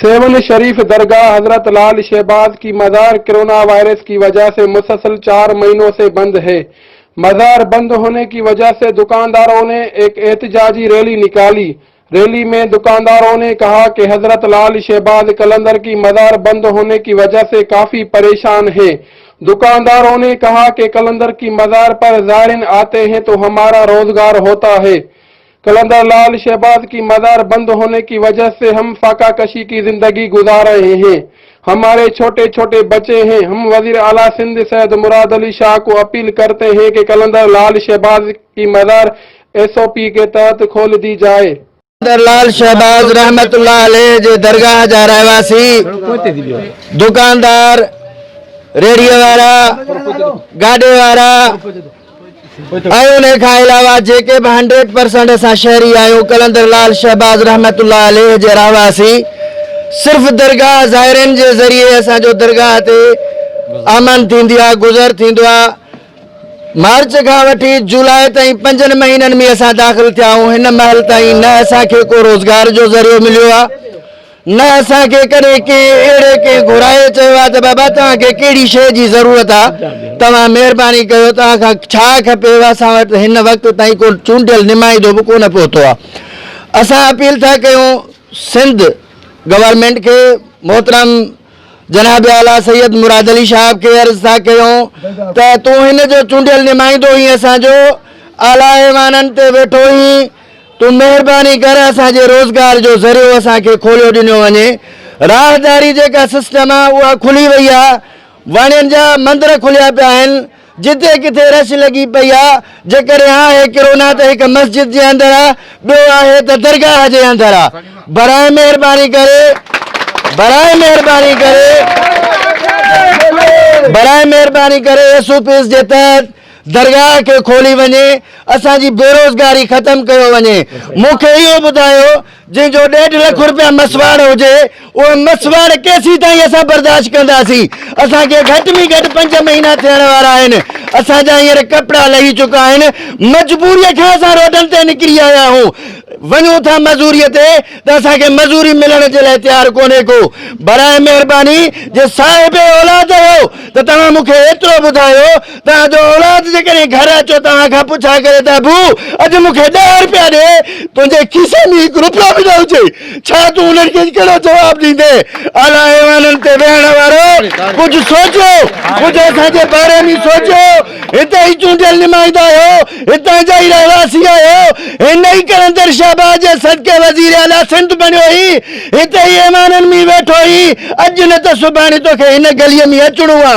سيون شريف درگاھ حضرت لعل شهباز ڪي مزار ڪرونا وائرس ڪي وجه سي مسسل چار مهينو سي بند هي مزار بند هوني ڪي وجه سي دڪانداروني ايڪ احتجاجي ريلي نڪالي ريلي مين دڪانداروني ڪها ڪي حضرت لعل شهباز قلندر ڪي مزار بند هوني ڪي وجه سي ڪافي پريشان هي دڪانداروني ڪها ڪي قلندر ڪي مزار پر زائرين آتي هين تو همارا روزگار هوتا هي قلندر لعل شهباز ڪي مزار بند هوني ڪي وجه سي هم فاقه ڪشي ڪي زندگي گذار رهي هين هماري ڇوٽي ڇوٽي بچي هين هم وزير اعليٰ سنڌ سيد مراد علي شاهه ڪو اپيل ڪرتي هين ڪي قلندر لعل شهباز ڪي مزار ايس او پي ڪي تحت کول دي جائي. قلندر لعل شهباز رحمت الله عليه جي درگاهه جا رهواسي، دڪاندار، ريڙهيء وارا، گاڏي وارا، ۽ انهي کان علاوه جيڪي به هنڊريڊ پرسنٽ اسان شهري آهيون قلندر لعل شهباز رحمة الله عليه جي رهواسي صرف درگاهه زائرين جي ذريعي اسان جو درگاهه تي آمن ٿيندي آ گذر ٿيندو آ مارچ کان وٺي جولاء تائين پنجن مهينن ۾ اسان داخل ٿيا آهيون هن مهل تائين نه اسان کي ڪو روزگار جو ذريعو مليو آ نه اسان کي ڪڏهن ڪنهن اهڙي ڪنهن گهرائي چيو آهي ته بابا توهان کي ڪهڙي شيء جي ضرورت آهي، توهان مهرباني ڪيو توهان کان ڇا کپيو، اسان وٽ هن وقت تائين ڪو چونڊيل نمائندو به ڪونه پهتو آهي. اسان اپيل ٿا ڪيون سنڌ گورنمينٽ کي، محترم جناب اعليٰ سيد مراد علي شهاب کي عرض ٿا ڪيون ته تون هن جو چونڊيل نمائندو هين اسان جو اعليٰ ايوانن تي ويٺو هين، تون مهرباني ڪر اسان جي روزگار جو ذريعو اسان کي کوليو ڏنو وڃي راهداري جيڪا سسٽم آ اها کلي وئي آ واڻين جا مندر کليا پيا آهن جتي ڪٿي رش لڳي پئي آ جيڪڏهن آهي ڪرونا ته هڪ مسجد جي اندر آ ٻيو آهي ته درگاهه جي اندر آ براهه مهرباني ڪري براهه مهرباني ڪري براهه مهرباني ڪري ايس او پيز جي تحت درگاهه کي کولي وڃي اسان جي بيروزگاري ختم ڪيو وڃي مون کي اهو ٻڌايو جنهن جو ڏيڍ لک رپيا مسواڙ هجي اهي مسواڙ ڪيسين تائين اسان برداشت ڪنداسين اسان کي گهٽ ۾ گهٽ پنج مهينا ٿيڻ وارا آهن اسان جا هينئر ڪپڙا لهي چڪا آهن مجبوري کان اسان روڊن تي نڪري آيا آهيون وڃون ٿا مزوري تي ته اسان کي مزوري ملڻ جي لاء تيار ڪونهي ڪو براء مهرباني جي صاحب اولاد آهيو ته توهان مون کي ايترو ٻڌايو توهان جو اولاد جيڪڏهن گهر اچيو توهان کان پڇا ڪري ته ابو اڄ مون کي ڏهه روپيا ڏي، تنهنجي کيسي ۾ هڪ روپيو به نه هجي، ڇا تون انهن کي ڪهڙو جواب ڏيندين؟ اعليٰ ايوانن تي ويهڻ وارو ڪجهه سوچيو، ڪجهه اسان جي باري ۾ سوچيو، هتي ئي چونڊيل نمائندا آهيو، هتان جا ئي رهواسي آهيو، هن ئي قلندر شهباز جي صدقي وزير اعليٰ سنڌ بڻيو هين، هتي ئي ايوانن ۾ ويٺو هين، اڄ نه ته سڀاڻي توکي هن گليء ۾ اچڻو آ،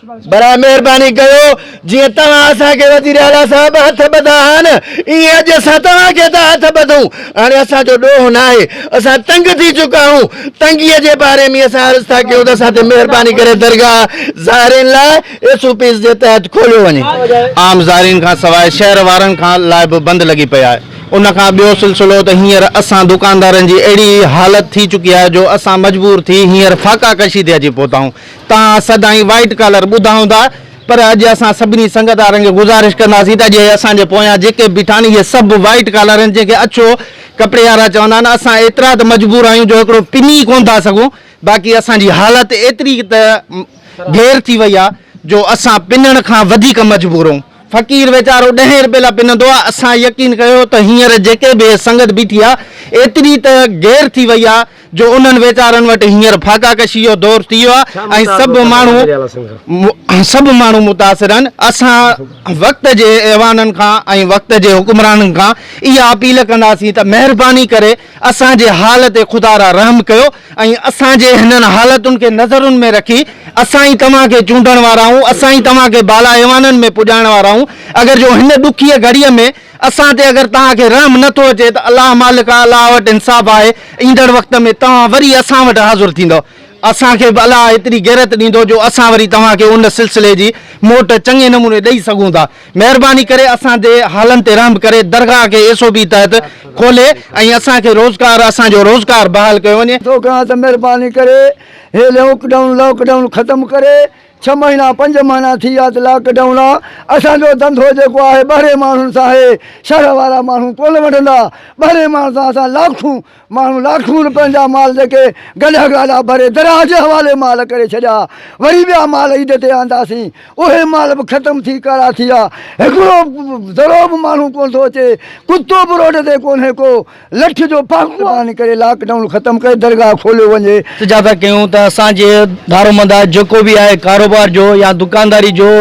برائي مهرباني ڪيو جيئن توهان اسان کي وزير اعليٰ صاحب هٿ ٻڌا ها نه ايئن اڄ اسان توهان کي ٿا هٿ ٻڌون هاڻي اسان جو ڏوهه ناهي اسان تنگ ٿي چڪا هون تنگي جي باري ۾ اسان عرض ٿا ڪيون ته اسان تي مهرباني ڪري درگاهه زائرين لاء ايس او پيز جي تحت کوليو وڃي عام زائرين کان سواء شهر وارن کان لاء به بند لڳي پئي آهي ان کان ٻيو سلسلو ته هينئر اسان دڪاندارن جي اهڙي حالت ٿي چڪي آهي جو اسان مجبور ٿي هينئر فاقا ڪشي تي اچي پهتا آهون تان اسد ۽ وائيٽ ڪالر ٻڌائون ٿا پر اڄ اسان سڀني سنگت وارن کي گذارش ڪنداسين ته اڄ اسان جي پويان جيڪي به ٺاھن اھي سڀ وائيٽ ڪالر آھن جنھن کي اڇو ڪپڙي وارا چوندا آھن اسان ايترا ته مجبور آھيون جو ھڪڙو پني ڪون ٿا سگھون باقي اسان جي حالت ايتري ته گير ٿي وئي آھي جو اسان پنڻ کان وڌيڪ مجبور اھون فقير ويچارو ڏھين رپئي لا پنندو آھي اسان يقين ڪيو ته ھينئر جيڪي به سنگت بيٺي آھي ايتري ته گير ٿي وئي آھي جو انهن ويچارن وٽ هينئر فاقا ڪشي جو دور ٿي ويو آهي ۽ سڀ ماڻهو سڀ ماڻهو متاثر آهن، اسان وقت جي ايوانن کان ۽ وقت جي حڪمرانن کان اها اپيل ڪنداسين ته مهرباني ڪري اسان جي حال تي خدا را رحم ڪيو ۽ اسان جي هنن حالتن کي نظرن ۾ رکي اسان ئي توهان کي چونڊڻ وارا آهيون اسان ئي توهان کي بالا ايوانن ۾ پڄائڻ وارا آهيون اگر جو هن ڏکيء گهڙيء ۾ اسان تي اگر توهان کي رحم نه ٿو اچي ته الله مالڪ اعليٰ وٽ انصاف آهي، ايندڙ وقت ۾ توهان وري اسان وٽ حاضر ٿيندؤ. اسان کي به الله ايتري غيرت ڏيندو جو اسان وري توهان کي ان سلسلي جي موٽ چڱي نموني ڏئي سگهون ٿا. مهرباني ڪري اسان جي حالن تي رحم ڪري درگاهه کي ايس او پي تحت کولي ۽ اسان کي روزگار اسان جو روزگار بحال ڪيو وڃي. توکان ته مهرباني ڪري هي لئوڪ ڊائون Lockdown ختم ڪري. ڇهه مهينا پنج مهنا ٿي ويا ته لاڪ ڊائون آ اسان جو ڌنڌو جيڪو آهي ٻهرين ماڻهن سان آهي شهر وارا ماڻهو ڪونه وٺندا ٻهرين ماڻهن سان اسان لاکون ماڻهو لاکون روپين جا مال جيڪي گڏهه گاڏا ڀري درياهه جي حوالي مال ڪري ڇڏيا وري ٻيا مال عيد تي آنداسين اهي مال به ختم ٿي ڪارا ٿي ويا هڪڙو ذرو به ماڻهو ڪونه ٿو اچي ڪتو به روڊ تي ڪونهي ڪو لٺ جو پاڪستان ڪري لاڪ ڊائون ختم ڪري درگاهه کوليو وڃي. التجا ٿا ڪيون ته اسان جي دارومدار جيڪو به آهي ڪاروبار جو يا دڪانداري جو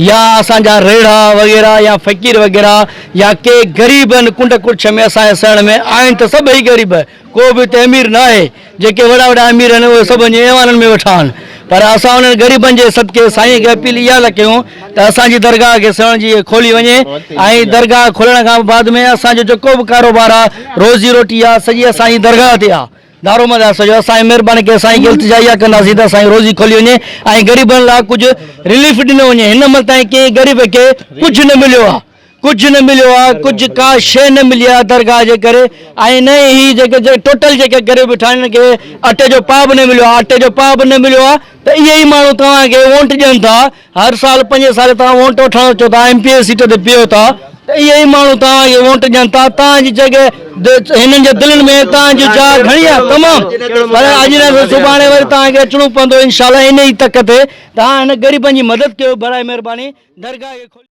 يا اسان جا ريڙها وغيره يا فقير وغيره يا ڪي غريب ان ڪنڊ ڪڙڇ ۾ اسان جي سهڻ ۾ آهن ته سڀئي غريب ڪو به اتي امير ناهي جيڪي وڏا وڏا امير آهن اهي سڀ وڃي ايوانن ۾ ويٺا آهن پر اسان انهن غريبن جي صدقي سائين کي اپيل اها ٿا ڪيون ته اسان جي درگاهه کي سيوهڻ جي کولي وڃي ۽ درگاهه کولڻ کان بعد ۾ اسان جو جيڪو به ڪاروبار آهي روزي روٽي آهي سڄي اسان جي درگاهه تي آهي دارومد آهي سڄو اسان مهرباني ڪري سائين کي التجا اها ڪنداسين ته اسان جي روزي کولي وڃي ۽ غريبن لاء ڪجهه رليف ڏنو وڃي هن عمل تائين ڪنهن غريب کي ڪجهه نه مليو آهي ڪجهه نه مليو آ ڪجهه ڪا شئي نه ملي آ درگاهه جي ڪري ۽ نه ئي هي جيڪي ٽوٽل جيڪي غريب ويٺا آهن انهن کي اٽي جو پاء به نه مليو آ اٽي جو پاء به نه مليو آ ته اهي ئي ماڻهو توهان کي وونٽ ڏين ٿا هر سال پنجين سالين توهان وونٽ وٺڻ اچو ٿا ايم پي اي سيٽ تي بيهو ٿا ته اهي ئي ماڻهو توهان کي وونٽ ڏين ٿا توهان جي جڳهه هنن جي دلين ۾ توهان جي جاء گهڻي آ تمام پر اڄ نه ته سڀاڻي وري توهان کي اچڻو پوندو انشاءالله انهي ئي تڪ تي توهان هن غريبن جي مدد ڪيو برائي مهرباني درگاهه کي